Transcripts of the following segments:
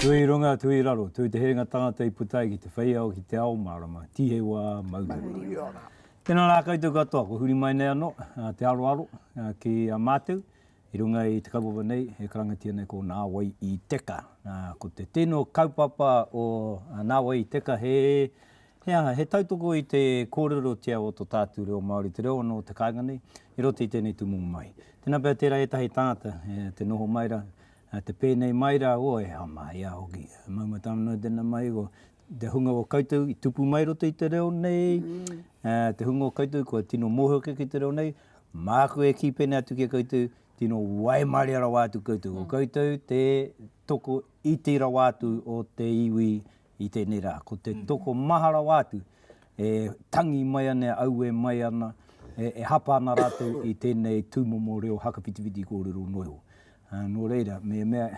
Tui runga, tui raro, tui te herenga tangata i puta ai ki te wheiao, ki te ao marama, tihe wa mauri ora. Tena ra koutou katoa, ko huri mai nei ano te aroaro ki a matou i runga i te kaupapa nei e karangatia nei ko Na Wai i Teka. Ko te tino kaupapa o Na Wai i Teka he he aha, he tautoko i te korerotia o to tatu reo Maori, te reo ano o te kainga nei i roto i tenei tumomo mahi. Tena pea tera etahi tangata te noho mai ra, Nā te pēnei mai rā o e Hama, i a hoki, mau matau noa tēnā mai, ko te hunga o koutou i tupu mai roto i te reo nei, te hunga o koutou kua tino mōhio kē ki te reo nei, māku e kī pēnei atu ki a koutou, tino waimarie rawa atu koutou. Ko koutou te toko iti rawa atu o te iwi i tēnei rā, ko te tokomaha rawa atu, e tangi mai ana, e aue mai ana, e hapa ana rātou i tēnei tūmomo reo hakawhitiwhiti kōrero noa iho. Nō reira, me mea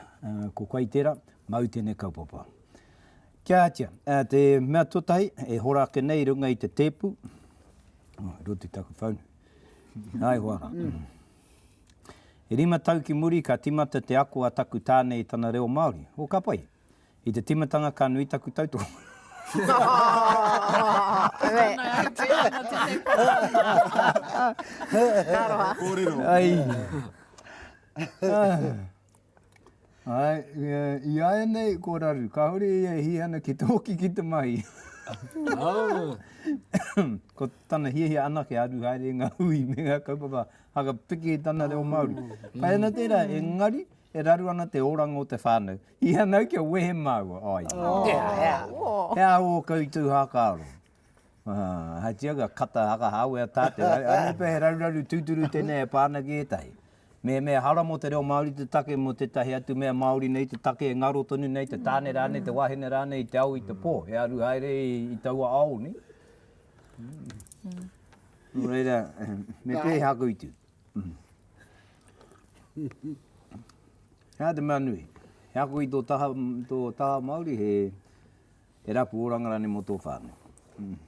ko koe i tērā, māu tēnei kaupapa. Kia ātia, te mea tuatahi, e hora ake nei i runga i te tēpu, i roto i taku phone, nā iho ara. E rima tau ki muri ka timata te ako a taku tāne i tana reo Māori, o ka pai. I te timatanga ka nui taku tautoko. Iaianei ko raru kahore ia e hia ana ki te hoki ki te mahi. Ko tana hiahia anake a aru haere i nga hui me nga kaupapa haka piki i tana reo Maori. Pai ana tera engari E raru ana te oranga o te whānau. I hanga ai kia wehe māua. Ai. Aww. He aha ō kautū hākaro? Ahatia ka kata hakahawe a tātou. Anei pea he raruraru tūturu tēnei e pā ana ki ētahi. Mehemea hara mō te reo Māori te take mō tētahi atu mea Māori nei te take e ngaro tonu nei, te tāne rānei, te wāhine rānei i te ao, i te pō. He aru haere i taua ao nei. Nō reira, me pēhea koutou? He aha te mea nui? He ako i tō taha, tō taha Māori, he, he rapu oranga rānei mō tō whānau. Mm.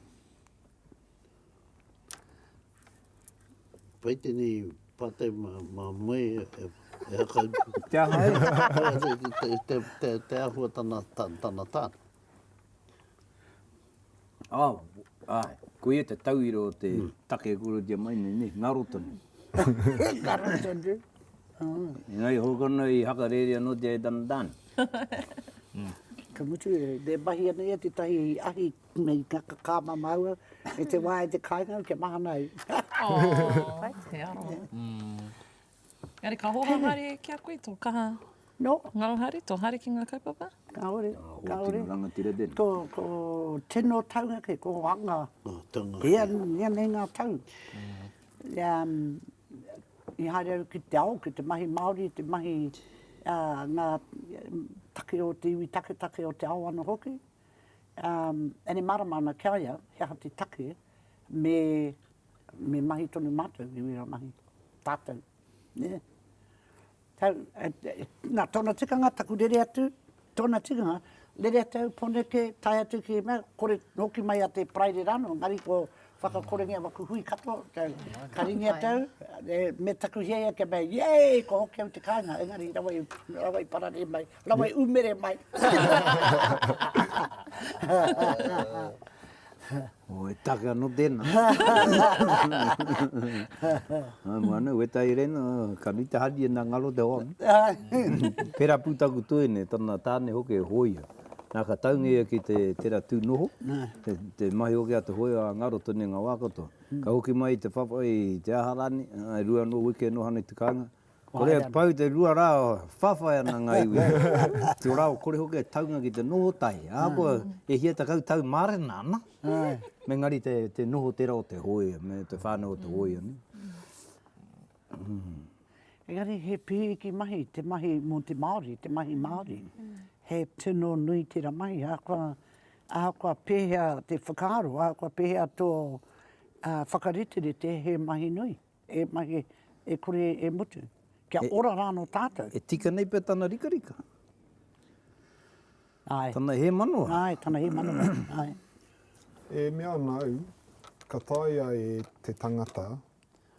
Pai tēnei pātai mā, mā moe e, e, e haka. te aha e? te, te, te, te, te ahua tana, tana tāna. Oh, ai, ko ia te tauira o te mm. take e korotia mai nei, ne, ngaro tonu. ngaro tonu. Oh. Ngai hokono i hakarere anō te e tana tāne. Mm. Ka mutu, e, e mahi ana ia te tahi i ahi nei ka kāma maua, e te wāi te kāinga, kia mahana ai. Oh, hai te aroha. Mm. Engari ka hoha haere ki a koe tō kaha ngaro haere, tō haere ki ngā kaupapa? Kāore, kāore. Tino rangatira tēnei. Ko, ko tino taunga kē, ko anga. Ko tino taunga. Ia, ia nei ngā tau. I haere au ki te ao, ki te mahi Māori, te mahi ngā take o te iwi taketake o te ao ana hoki. Ere marama ana ki a ia, he aha te take me. Me mahi tonu mātou i wera mahi, tātou, nē. Tau, nā, tōna tikanga, taku rere atu, tōna tikanga, rere atu au, poneke, tae atu ki mea, kore hoki mai a te Paraire rānō, engari ko whakakorengia waku hui katoa, tau, ka ringi atu au, me taku hiahia kia mea, yay, kua hoki au i te kāinga, engari rawa i, rawa i pararē mai, rawa i umere mai. Oh, he take ano tena. Hai mo ano, weta i rena, ka nui te hari ena ngaro te hoa. Pera pu taku toene, tana tane hoke e hoia. Na ka taunga ia ki te tera tu noho, te mahi hoke a te hoe a ngaro tone nga wa katoa. Ka hoki mai te papa i te aha rane, rua no wiki e noha nei te kainga, Kore e pau te rua rā, whawhai ana ngā iwi ki ō rāua kore hoki e taunga ki te noho tahi, ahakoa e hia tekau tau mārena ana, engari te noho tērā o te hōia me te whānau o te hōia nei. Engari he pīriki mahi te mahi mō te Māori, te mahi Māori. He tino nui tērā mahi, ahakoa pēhea te whakaaro, ahakoa pēhea tō whakariterite, he mahi nui. E mahi, e kore e mutu. Kia ora rā anō tātou. E tika nei pea tana rikarika. Āe. Tana hēmanawa. Āe, tana hēmanawa. Āe. E mea ana au, ka taea e te tangata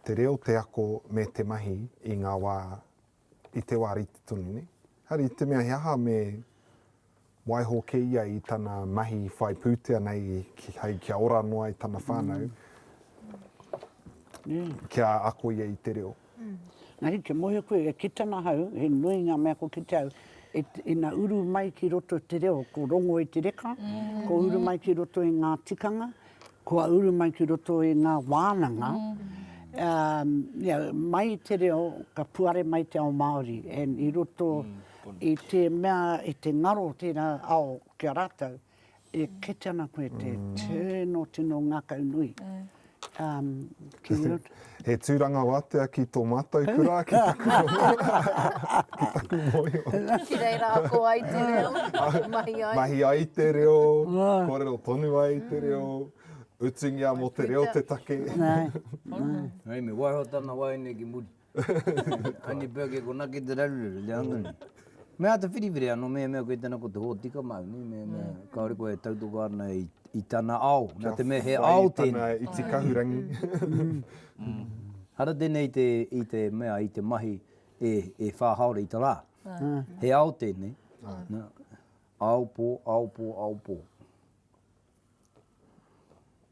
te reo, te ako me te mahi i ngā wā i te wā rite tonu nei. Engari i te mea he aha me waiho kē ia i tana mahi whai pūtea nei ki, hei kia ora noa ai tana whānau, mm. kia ako ia i te reo. Mm. Engari kia mohe koe, e kita na hau, he nui ngā mea ko kita au, e, ina uru mai ki roto te reo, ko rongo i te reka, mm. ko uru mai ki roto i ngā tikanga, Kua uru mai ki roto i ngā wānanga, mai i te reo ka puare mai te ao Māori and i roto i te mea, i te ngaro o tērā ao ki a rātou, e kite ana koe te tino, tino ngākau nui. He tūranga wātea ki tō mātou kura, ki taku rongo, ki taku mōhio. Ki reira ako ai te reo, mahi ai. Mahi ai te reo, kōrero tonu ai te reo, utungia mō te reo te take. Hei me waiho tana waeine ki muri. Annie Burke e konaki te raruraru, le anga nei. Mea te whiriwhiri ano mehemea koe tena ko te hotika mauni me me kaore koe e tautoka ana i i tana ao na te mea he ao tena. Kia whai tana iti kahurangi. Ara tenei te i te mea i te mahi e e wha haora i te ra. He ao tenei na ao po ao po ao po.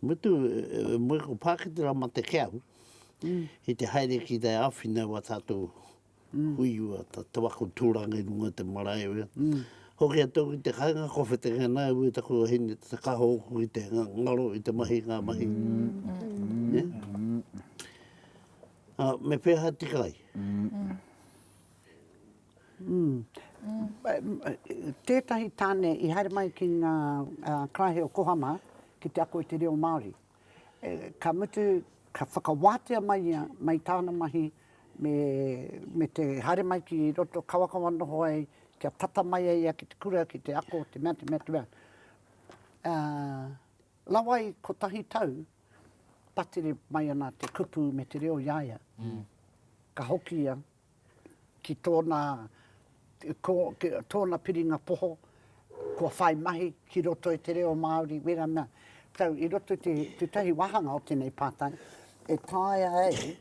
Mutu, e moe ko Pāketera ma te Keahu, ki te haere ki te āwhina o a tātou hui rua, te waka tūranga i runga te marae o ia. Hoki atu ki te kainga ko Whetenganā e wē taku wahine te kaha ōku ki te ngaro i te mahi ngā mahi. Me pēhā tika ai? Tētahi tāne i haere mai ki ngā karaehe o Kohama ki te ako i te reo Māori. Ka mutu, ka whakawātea mai ia, mai tāna mahi me te haere mai ki roto, kawakawa noho ai, kia tata mai ai ia ki te kura, ki te ako, te mea, te mea, te mea. Rawa i kotahi tau, patere mai ana te kupu me te reo i a ia. Ka hoki ia, ki tōna, ko, ki tōna piringa poho, kua whai mahi ki roto i te reo Māori, wera mea, tau, i roto i te, tētahi wāhanga o tēnei pātai, e taea ai,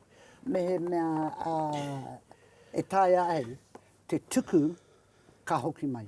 mehemea, ā, e taea ai te tuku ka hoki mai.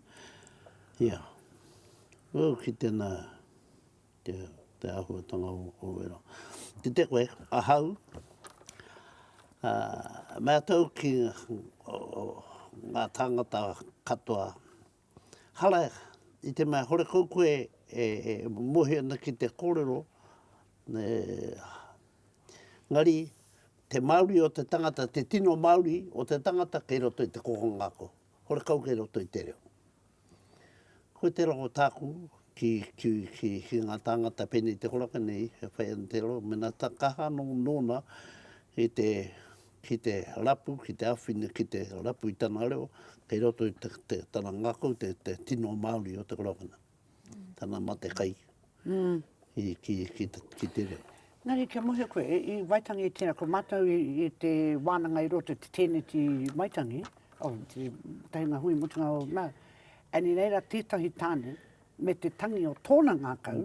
Ia. Ū ki tēnā, te, te āhuatanga o ō wero. Kite koe, ahau, ā, me atau ki ngā tāngata katoa, hara i te mea horekau koe e, e mohi ana ki te kōrero, e, engari, te Māori o te tangata, te tino Māori o te tangata kei roto i te kokonga ako. Horekau kei roto i te reo. Ko te rongo tāku ki, ki, ki, ki ngā tāngata pēnei te horaka nei, e whai ana te rongo, mena ta kaha anō nōna ki te, ki te rapu, ki te awhina, ki te rapu i tana reo, kei roto i te, te, tana ngakau, te, te tino Māori o te korowhana. tana mate kai ki te reo. Engari kia mōhio koe, i Waitangi i tēnā, ko mātou i te wānanga i roto i te tēneti Waitangi, o te tahinga hui mutunga o nā, and i reira tētahi tāne me te tangi o tōna ngākau,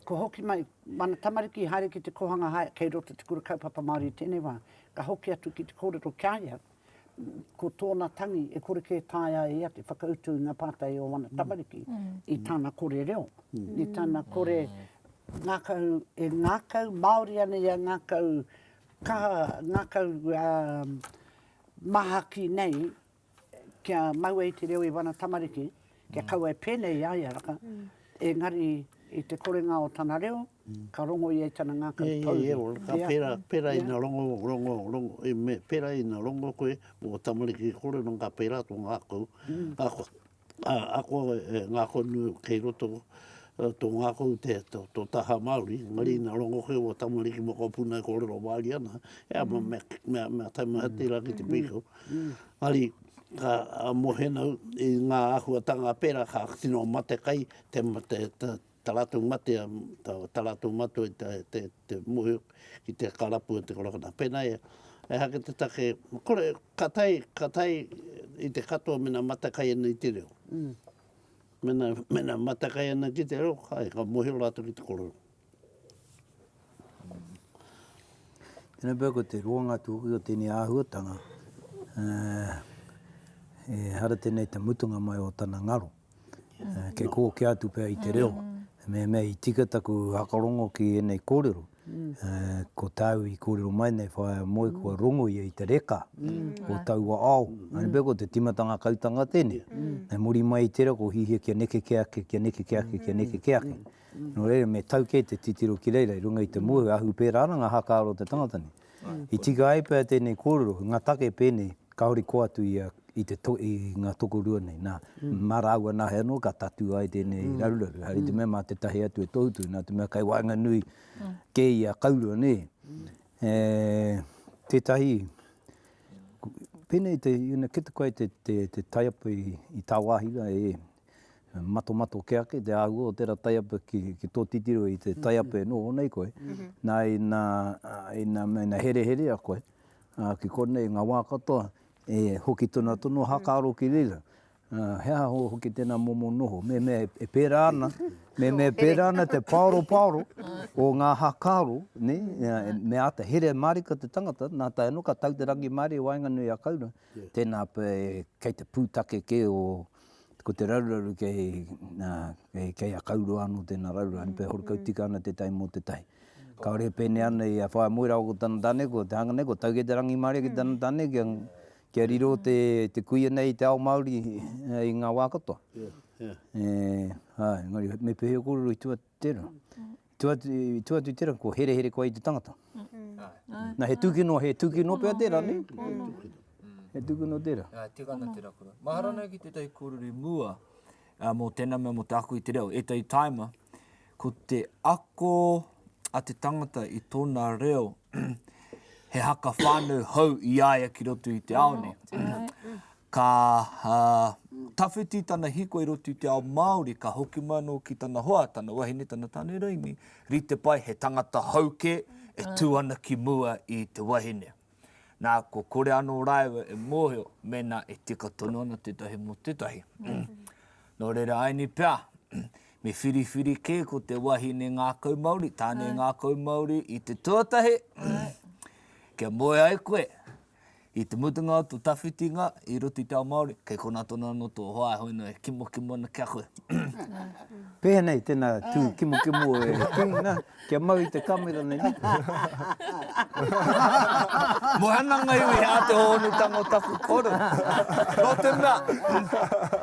kua hoki mai, mana tamariki i haere ki te kōhanga hae kei roto te kura kaupapa Māori i tēnei wā, ka hoki atu ki te kōrero ki a ia, ko tōna tangi e kore kē taea e ia te whakautu i ngā pātai o ana tamariki i tana kore reo, i tana kore ngākau, e ngākau Māori ana ia, ngākau kaha, ngākau māhaki nei kia mau ai te reo i wana tamariki, kia kaua e pēnei i a ia raka, engari i te korenga o tana reo, ka rongo ia i tana ngākau pouri. Ia, ia, ka pērā, pērā ina rongo, rongo, rongo, e me, pērā ina rongo koe mō ō tamariki kore, nō ka pērā tō ngākau, ako, ako e ngākau nu kei roto, tō ngākau te, tō, tō taha Māori, engari ina rongo koe mō tamariki mokopuna e kōrero Māori ana, e ama mea, mea, mea taimaha tērā ki te pīkau. Ari ka mohena i nga ahuatanga pera ka tino matekai te ta ratou mate ta ratou matua i te mohi ki te karapu o te korokona pena ia eha ke te take kore ka tae ka tae i te katoa mena matekai ana i te reo mena mena matekai ana ki te reo kai ka mohi ratou ki te korero. Tēnei pea ko te roanga tūkui o tēnei āhuatanga, e hara tēnei te mutunga mai o tana ngaro, kei kōkē atu pea i te reo, mehemea i tika taku whakarongo ki ēnei kōrero, ko tāu i kōrero mai nei whaea moe kua rongo ia i te reka o taua ao, tēnei pea ko te tīmatanga kautanga tēnei, hei muri mai i tērā ko hihia kia neke ke ake, kia neke ke ake, kia neke ke ake. Nō reira, me tau kē te titiro ki reira i runga i te mōhio, ahu pērā ana ngā hākāro o te tangata nei. I tika ai pea tēnei kōrero, i ngā take pēnei, kāore koa atu i a, i te to, i ngā tokorua nei, nā, mā rāua nāhe anō ka tatū ai tēnei raruraru, haere i te mea mā tētahi atu e tohutohu, nā te mea kei waenganui kē i a Kaurua, nē. E, tētahi, pēnei te, you know, ki te koe te, te, te taiapa i, i tāwāhi rā, e, matomato ke ake te āhua o tērā taiapa ki tō titiro i te taiapa e noho nei koe, nā ina hereherea koe ki konei ngā wā katoa e hoki tonu tonu hakaaro ki reira, he aha hoki tēnā momo noho, mehemea e pērā ana, mehemea e pērā ana te pāoropaoro o ngā hakaaro, me āta here mārika te tangata, nā tae noa ka tau te rangimārie i waenganui a Kaurau, tēnā pea kei te pūtake kē o. ko te raruraru kei, nā, kei, kei a Kauroa anō tēnā raruraru, mm. pē horokau tika ana te tai mō te tai. Mm. Ka ore pēne ana i a whae moera o tana tane, ko te hanga nei, ko tauke te rangi māre ki mm. tana tane, kia, kia riro te, te kuia nei i te ao Māori eh, i ngā wā katoa. Yeah, yeah. E, hai, ngari, me pehe o kōrero i tua tērā. I tua atu i tērā, kua herehere koe i te tangata. Nā, he tūkino, he tūkino pea tērā, nē? He tūkino tērā. Nā, e tika ana te raukura. Mahara nui ki tētahi kōrero i mua mō tēnā mea, mō te ako i te reo. Ētahi tāima, ko te ako a te tangata i tōna reo, he haka whānau hou i a ia ki roto i te ao nei. Ka tawhiti tana hiko i roto i te ao Māori, ka hoki mai anō ki tana hoa, tana wahine, tana tāne raini, rite pai, he tangata hou kē e tū ana ki mua i te wahine. Nā, kua kore anō rāua e mōhio mēnā e tika tonu ana tētahi mō tētahi. Nō reira, āianei pea, me whiriwhiri kē ko te wahine ngākau Māori, tāne ngākau Māori i te tuatahi, kia moe ai koe, I te mutunga o to tawhiti nga, i roto i te ao Maori, kei kona tonu ano to hoa e hoi no e kimokimo ana ki a koe. Peha nei tena tu kimokimo e ki na, kia mau i te kamera nei ni. Mohana nga iwi he a te hohonutanga o taku koro. No te mea,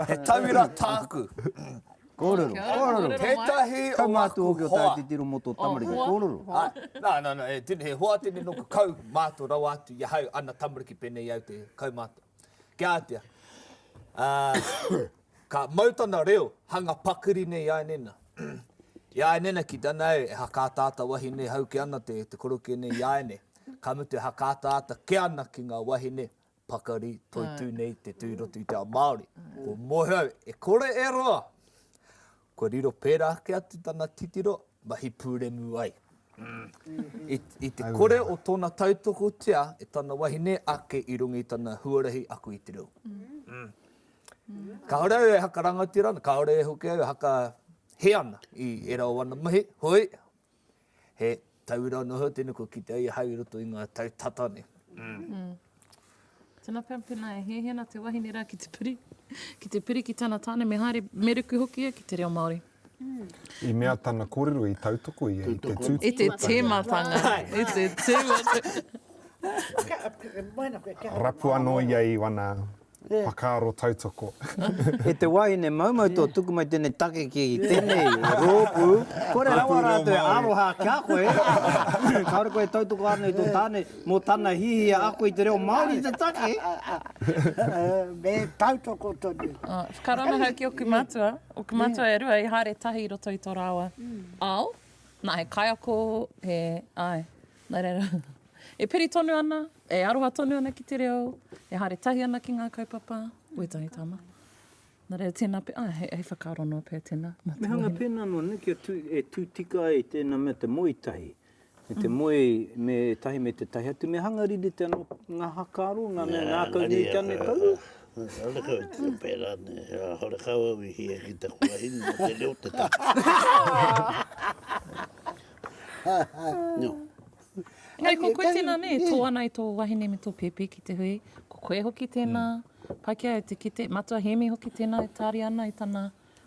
he tauira taku. Kōrero. Kia ora, kōrero. Kōrero mai. Tētahi o Kau mātua ngāku hoki o hoa. Tāititiro mō tō tamariki. Hoa. Kōrero. Hoa. Ā, nā, nā, nā, he tini, he hoa tini noku kau mātou rawa atu i ahau, ana tamariki pēnei i au te kau mātou. Kia ātea, ā, ka mau tana reo, hanga pakiri nei i a Nena. I a Nena ki tana au, e hakaataata wahine hauki ana te, te korokia nei i a ēnei. Ka mutu e hakaataata kē ana ki ngā wahine pakari, toitū nei te tū i roto i te ao Māori. Ko Moeau, e kore e roa! Kua riro pērā ake atu tana titiro, mahi pūremu ai. I te kore o tōna tautokotia e tana wahine ake i runga i tana huarahi ako i te reo. Kāore au e hakarangatira ana, kāore hoki au e haka hē ana i ērā o ana mahi, hoi, He tauira noa iho tēnei kua kitea i ahau i roto i ngā tau tata nei. Mm. Tēnā pea, pēnā e hēhē ana te wahine rā ki te piri, ki te piri ki tana tāne, me haere, me ruku hoki ia ki te reo Māori. Mm. I mea tana kōrero i tautoko ia i te tū. I te tēmatanga. I te tēmatanga. Rapu anō ia i wana whakaaro tautoko. E te wahine maumau tō tuku mai tēnei take ki tēnei rōpū, kore rawa rātou e aroha ki a koe, kāore koe e tautoko ana i tō tāne mō tana hiahia ako i te reo Māori i te take. Me tautoko tonu. Whakarana hau ki oku matua, oku matua e rua i haere tahi i roto i tō rāua ao, nā he kaiako, he, āe, Nā reira, e piri tonu ana, e aroha tonu ana ki te reo, e haere tahi ana ki ngā kaupapa, wētahi tama. Nā reira, tēnā pea, ah, hei, hei whakaaro noa pea tēnā. Me hanga pēnā noa, nē, kia tū, e tū tika ai tēnā mea te moe tahi, me te moe, me tahi, me te tahi atu, me hanga riri te anō, ngā hakaaro, ngā mea ngākau nui te ane kau. Ana kau i te pērā, nē, hore kau au i hia ki taku wahine, mō te reo te tahi. Engari ko koe tēnā nē, tō ana i tō wahine me tō pēpi ki te hui, ko koe hoki tēnā, mm. Paikea e te kite, Matua Hēmi hoki tēnā e tāria ana i tana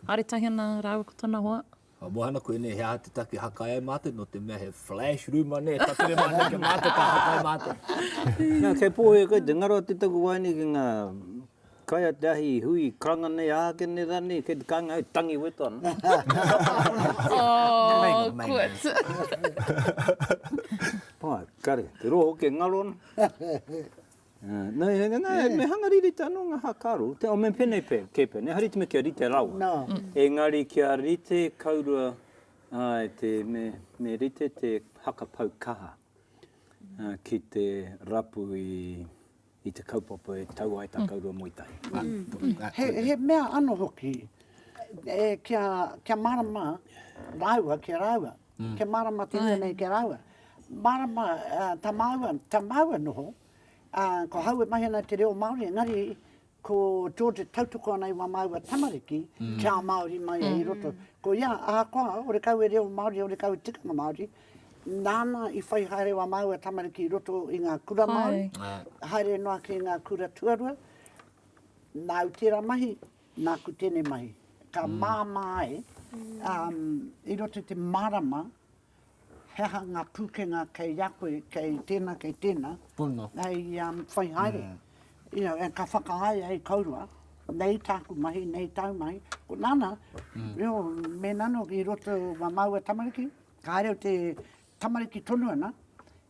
aretahi ana rāua ko tana hoa. Ka mohana koe nei, he aha te take hakai ai mātou, no te mea he flash room anei, tatere mātou kia mātou ka hakai mātou. Nā, kei pōhia koe, te ngaro te taku wāine ki ngā Kai a te ahi hui karanga nei a ake nei ra nei kei te kainga hei tangi weto ana. Ooh quotes. Pai, kare, te roho ke ngaro ana. Nei he ngana, me hanga riri te ano nga hakaru, te o me penei pe, ke penei, hari te me kia rite rawa. Engari kia rite kaurua, ai te me, me rite te haka pau kaha ki te rapu i. i te kaupapa e tau ai tā kouroua moe tahi. He mea ano hoki, kia marama raua ki a raua, kia marama te rua nei ki a raua. Marama ta maua, ta maua noho, ko hau e mahi ana i te reo Māori, engari ko George e tautoko ana i wa maua tamariki kia Māori mai i roto. Ko ia, ahakoa, ore kau e reo Māori, ore kau e tikanga Māori, Nāna i whai haere wā māua tamariki i roto i ngā kura Māori, haere noa ki ngā kura tuarua. Nāu tērā mahi, nāku tēnei mahi. Ka māmā ai, i roto i te marama, he aha ngā pūkenga kei a koe, kei tēnā, kei tēnā, hei whai haere. Ka whakaāia e kōrua, nei tāku mahi, nei tāu mahi. Ko nāna, mēnā nō i roto wā māua tamariki, Ka reo te tamariki tonu ana,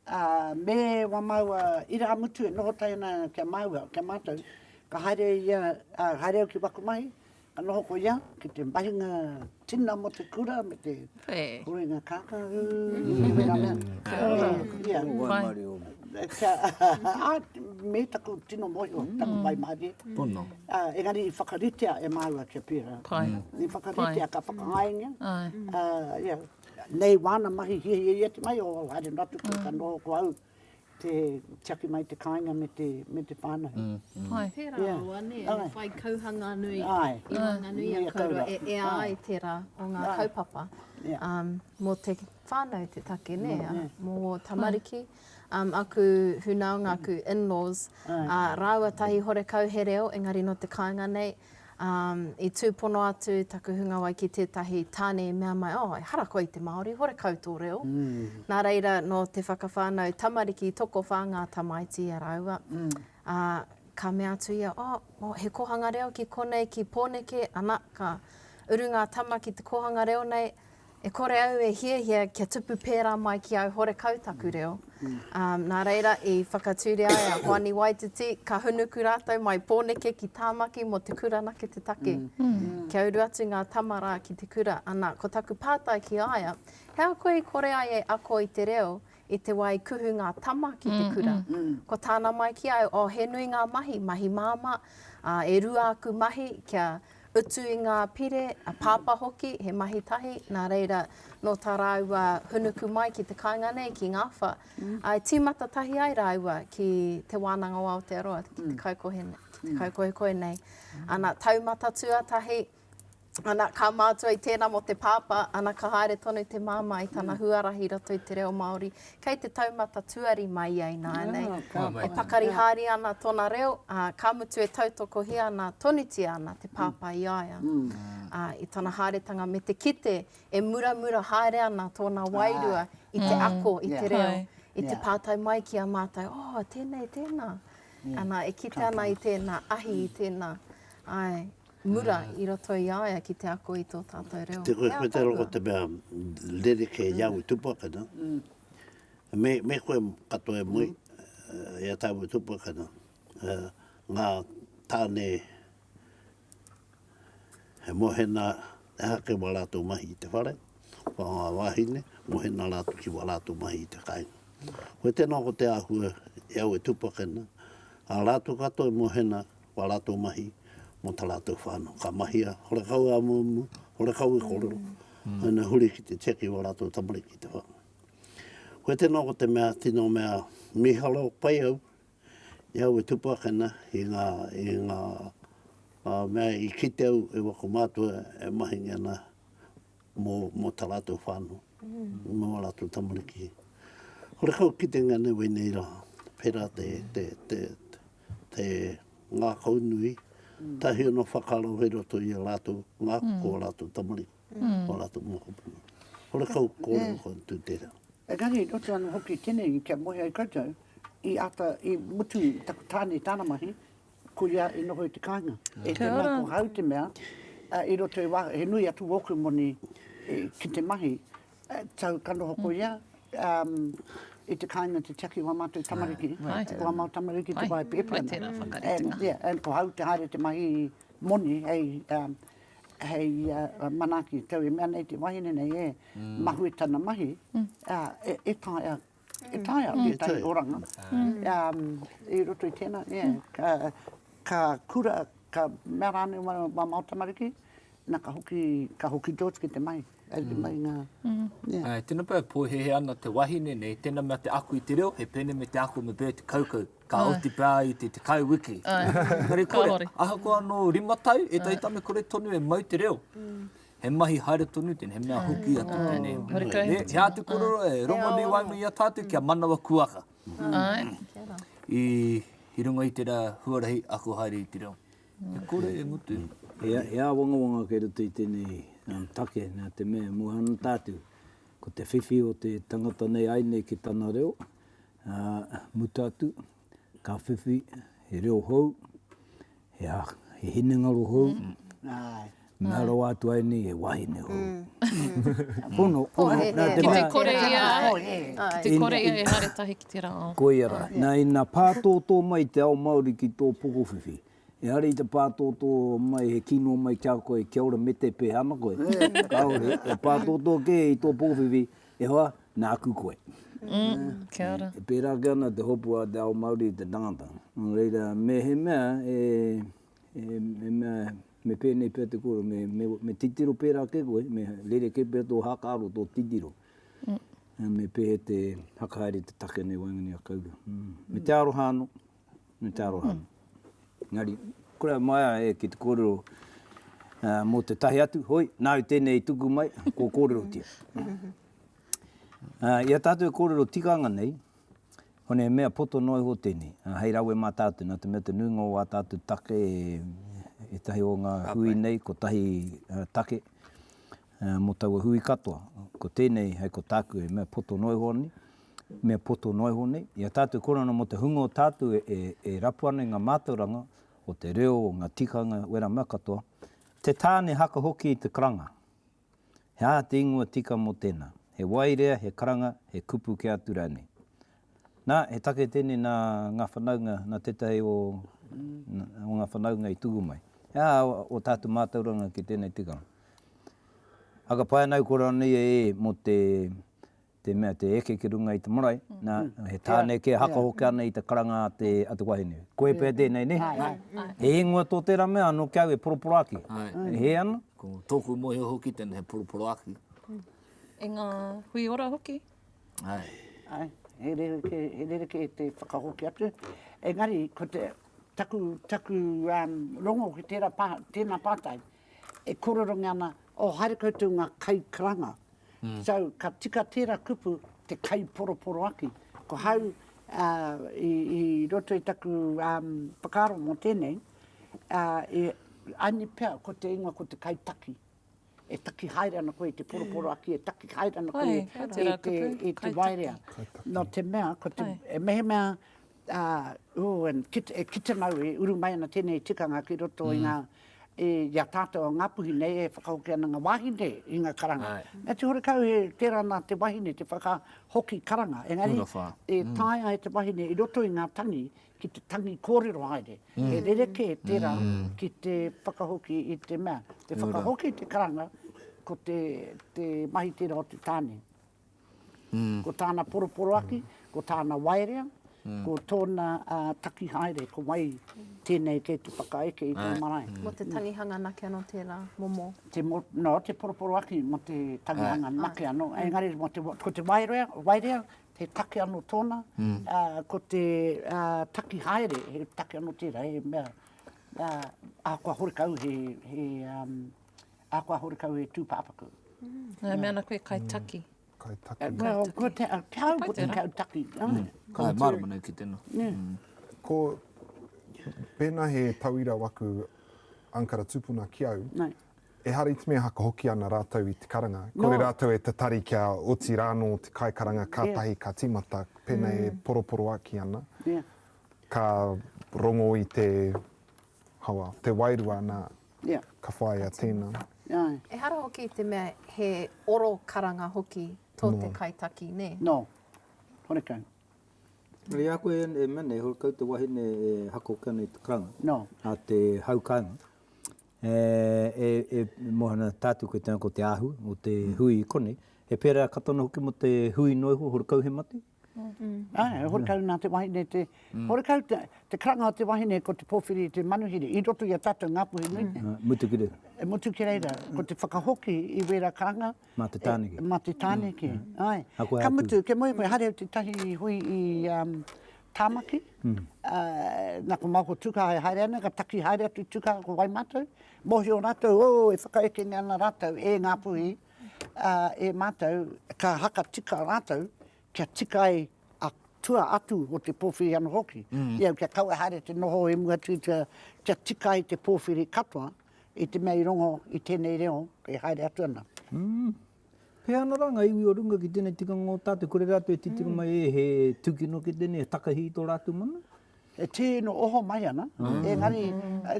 ā, me wā māua irāmutu e noho tahi ana ki a māua, ki a mātou, ka haere ia, ā, haere au ki waku mahi, ka noho ko ia ki te mahinga tina mō te kura me te huinga kākāhū, me wērā mea. Kia ora. Kia ora. Wai Mārie ōmu. Kia, ā, me taku tino mōhio, taku wai mārie. Pono. Ā, engari i whakaritea e māua kia pērā. Pai. I whakaritea, Pai. ka whakangaingia. Āe. Ā, ia, nei wāna mahi hiahia ia te mahi, o, haere noa atu koe, ka noho ko au, te tiaki mai te kāinga me te, me te whānau. Pai. Pērā Ia. rawa, nē, Āe. i whai kauhanga nui Āe. i waenganui Ia a kouroa, kouroa. e ea Āe. ai tērā o ngā Āe. kaupapa. Ia. Um, mō te whānau te take, nē, Nē, ā, nē. mō ō tamariki. Āe. um, aku hunaunga, aku in-laws, uh, rāua tahi horekau he reo, engari no te kāinga nei, um, i tūpono atu taku hunga wai ki tētahi tāne i mea mai, oh, ehara koe i te Māori, horekau tō reo. Mm. Nā reira, no te whakawhānau tamariki, tokowhā ngā tamaiti i a rāua. Mm. Uh, ka mea atu ia, oh, oh, he kohanga reo ki konei, ki Pōneke, ana, ka uru ngā tama ki te kohanga reo nei, E kore au e hiahia kia tupu pērā mai ki au horekau taku reo. Nā reira i whakature ai a Hoani Waititi, ka hunuku rātou mai Pōneke ki Tāmaki mō te kura anake te take. Kia uru atu ngā tama rā ki te kura, ana, ko taku pātai ki a ia, he aha koe i kore ai e ako i te reo i te wā i kuhu ngā tama ki te kura. Ko tāna mai ki a au, oh, he nui ngā mahi, mahi māmā, ā, e rua aku mahi kia utu i ngā pire, a Pāpā hoki, he mahi tahi, nā reira, nō tā rāua hunuku mai ki te kāinga nei, ki Ngāwha, ā, i tīmata tahi ai rāua ki Te Wānanga o Aotearoa, ki te kaukohe nei, ana, taumata tuatahi, Ana, ka mātua i tēnā mō te pāpā, ana, ka haere tonu te māmā i tana huarahi i roto i te reo Māori. Kei te taumata tuari mai ia ināianei. E pakari haere ana tōna reo, ā, ka mutu e tautokohia ana, tonutia ana te pāpā i a ia. Ā, i tana haeretanga me te kite e muramura haere ana tōna wairua i te ako i te reo, i te pātai mai ki a mātou, Oh, tēnei, tēnā. Ana, e kite ana i tēnā ahi, i tēnā, āe, mura i roto i a ia ki te ako i tō tātou reo. Te koe, koe te roko te mea rerekē i au i Tupakana. Mm. Me, me koe katoa e mui, mm. e a tāu i Tupakana. Uh, ngā tāne he mohena e hake wa rātou mahi i te whare, wha ngā wāhine, mohena rātou ki wa rātou mahi i te kāinga. Koe tēnā ko te āhua e au e Tupakana, a rātou katoa mohena wā rātou mahi mō tā rātou whānau. Ka mahia, horekau e amuamu, horekau e kōrero, mm. ina huri ki te tiaki wā rātou tamariki ki te whānau. Koe tēnā ko te mea, tino mea, miharo pai au, i au e tupakena i ngā, i ngā uh, mea i kite au e wako mātua e mahingi ana mō, mō tā rātou whānau, mm. mō rātou tamariki. Horekau kitenga nei wēnei rā, pērā te, te, te, te, te ngākaunui, tahi ona whakaaro hei roto i a rātou ngākau ko ō rātou tamariki, ō rātou mokopuna. Horekau kōrero kua tū tērā. Engari i roto ana hoki i tēnei kia moe ai koutou, i āta, i mutu i taku tāne tāna mahi, ko ia i noho i te kāinga. E te mea ko hau te mea, i roto i wā, he nui atu wōku moni ki te mahi, Tau ka noho ko ia, i te kāinga te tiaki wā mātou tamariki, wā mātou tamariki te wāhi pēpi ana. And ko au te haere te mahi moni hei manaaki, tau e mea nei te wahine nei e, mahue tana mahi, e taea E taea tētahi oranga, i roto i tēnā, ka kura, ka mea rānei wā māu tamariki, nā ka hoki, ka hoki George ki te mahi, ki mahi ngā. Āe, tēnā pea e pōhēhē ana te wahine nei, tēnā mea te ako i te reo, he pēnei me te ako me Bert Kaukau, ka oti pea ai i te tekau wiki. Engari kore, ahakoa anō rima tau, ētahi tāne kore tonu e mau te reo. He mahi haere tonu tēnei, he mea hoki atu tēnei. He āti korero e rongonui waenga i a tātou kia manawa kuaha. I runga i tērā huarahi ako haere i te reo. He kore e ngutu. He āwangawanga kei roto i tēnei take nā te mea mua ana tātou. Ko te whiwhi o te tangata nei ai nei ki tana reo, mutu atu, ka whiwhi, he reo hou, he he hinengaro hou, mea rawa atu ai nei he wahine hou. Pono, pono, nā te mea... Ki te kore ia, ki te kore ia e haere tahi ki te rangao. Koia rā. Nā, ina pātōtō mai te ao Māori ki tō pokowhiwhi, ehara i te pātōtō mai, he kino mai ki a koe, kia ora me te pēhana koe. Kāore, e pātōtō kē i tō pokowhiwhi, e hoa, Nāku koe. Kia ora. E pērā ake ana te hopu a te ao Māori i te tangata. Nō reira, mehemea e, e, e mea, me pēnei pea te kōrero, me, me, me titiro pērā ake koe, me rerekē pea tō hākāro, tō titiro. Mm. Me pēhe te hakahaere te take nei waenganui a Kaurua. Mm. Me te aroha anō. me te aroha. Engari, kore a Maia e ki te kōrero mō te tahi atu, hoi, nāu tēnei i tuku mai, kua kōrerotia. I a tātou e kōrero tikanga nei, hone he mea poto noa iho tēnei, hei rawe mā tātou, nā te mea te nuinga o wā tātou take e tahi o ngā hui nei, ko tahi take mō taua hui katoa, ko tēnei, hei ko tāku, he mea poto noa iho nei, mea poto noa iho nei, i a tātou Korona mō te hunga o tātou e rapu ana i ngā mātauranga o te reo, o ngā tikanga, wera mea katoa, te tāne haka hoki i te karanga. He aha te ingoa tika mō tēnā? He waerea, he karanga, he kupu kē atu rānei? Nā, he take tēnei nā ngā whanaunga, nā tētahi o ngā whanaunga i tuku mai. He aha o tātou mātauranga ki tēnei tikanga? Whakapae ana au Korona nei e mō te te mea te eke ki runga i te marae, na, he tāne kē haka hoki ana i te karanga a te, a te wahine. Koe pea tēnei, nē? He ingoa tō tērā mea anō ki a au e poroporoaki. E hē ana? Ko tōku mōhio hoki tēnei he poroporoaki. E ngā hui ora hoki. Ai. Ai, he rerekē, he rerekē te whakahoki atu. Engari, ko te, taku, taku rongo ki tērā pā, tēnā pātai. E kōrerongia ana, oh, haere koutou ngā kaikaranga. So, ka tika tērā kupu, te kaiporoporoaki. Ko hau, i roto i taku whakaaro mō tēnei, I need pea, ko te ingoa ko te kaitaki. E taki haere ana koe i te poroporoaki, e taki haere ana koe i te waerea. Nō te mea, mehemea ki te mau e uru mai ana tēnei tikanga ki roto i ngā, i a tātou a Ngāpuhi nei e whakahoki ana ngā wāhine i ngā karanga. Nā te horekau he tērā nā te wahine te whakahoki karanga, engari e taea e te wahine i roto i ngā tangi ki te tangi kōrero haere. He rerekē tērā ki te whakahoki i te mea, te whakahoki i te karanga ko te mahi tērā o te tāne. ko tāna poroporoaki, ko tāna waerea, ko tōna taki haere, ko wai tēnei kei te whakaeke i tō marae. Mō te tangihanga nake anō tērā momo? Nō, te poroporoaki mō te tangihanga nake anō. Engari, ko te waerea, he take anō tōna, ko te taki haere, he take anō tērā, he mea, ahakoa horekau he A kua hore kau e Tupapaku. Nga mea ana koe kai taki. Kai taki. Well, ko te au ko te kai taki. Kai marama nei ki tena. Ko, pena he tauira waku angkara tupuna ki au, e hara iti mea haka hoki ana ratou i te karanga. Kore ratou e tatari kia oti rano te kai karanga katahi ka timata pena e poroporoaki ana. Ka rongo i te. Hawa, te wairua nā, ka whāia tēnā. Ehara hoki te mea he oro karanga hoki tō te kaitaki, nē? Nō, horekau. I a koe e mea nei, horekau te wahine e hakokia nei te karanga a te hau kāinga, e mōhana tātou koe tēnā ko te ahu o te hui i konei, he pērā katono hoki mō te hui noa iho, horekau he mate? Āe, horekau nā te wahine te, horekau te, te karanga o te wahine ko te pōwhiri i te manuhiri, i roto i a tātou ngā puhi nui nei. Ā, mutu ki reira. E mutu ki reira, ko te whakahoki i wērā karanga. Mā te tāneke. Mā te tāneke, āe. Ka koe āku. Ka mutu, kia moe koe, haere au tētahi i hui i Tāmaki, nā ko Maoko Tūkaha e haere ana, ka taki haere atu i Tūkaha ko wai mātou, mōhio rātou, ō, e whakaekengia ana rātou e ngā puhi, ā, e Mātou, ka haka tika rātou, kia tika ai a tua atu o te pōwhiri anō hoki, i au kia kaua haere te noho i mua tuitua, kia tika ai te pōwhiri katoa, i te mea i rongo i tēnei reo e haere atu ana. Pēhea ana rā ngā iwi o runga ki tēnei tikanga o tātou, kore rātou e titiro mai e, he tūkino kē tēnei, he takahi i tō rātou mana? E tino oho mai ana, engari,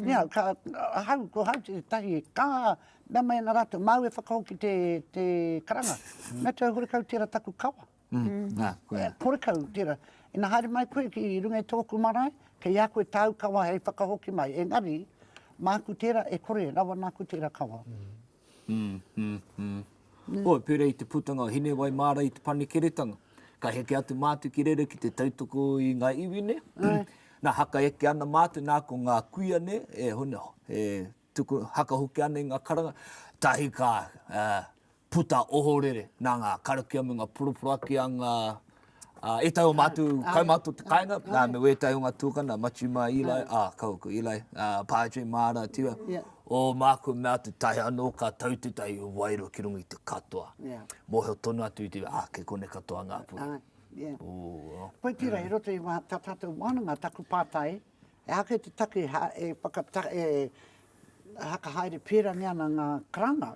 niau, ka, ahau, ko hau tētahi, ka Mea mai ana rātou, māu e whakahoki te, te karanga. Mea te au, horekau tērā taku kawa. Nā, koia. Horekau tērā. Ina haere mai koe ki runga i tōku marae, kei a koe tāu kawa hei whakahoki mai. Engari, māku tērā, e kore, rawa nāku tērā kawa. Oi, pērā i te putanga o Hinewai-māra i Te Panekiretanga, ka heke atu mātou ki reira ki te tautoko i ngā iwi nei. Nā, haka eke ana mātou, nā, ko ngā kuia nei, e, e Tuku hakahoki ana i nga karanga, tahi ka puta ohorere na nga karakia me nga poroporoaki a nga a etahi o matu kaumatu o te kainga, na me wetahi o nga tukana, Matiu ma Eli, a kau aku Eli, a Padre ma ara atu ia, o maku mea atu tahi ano ka tau tetahi wairua ki runga i te katoa. Mohio tonu atu i te iwi, a kei konei katoa nga puna. Pai tera i roto i nga, ta tatou wānanga, taku pātai, He aha kei te take e whakata, e whakahaere pērangi ana ngā karanga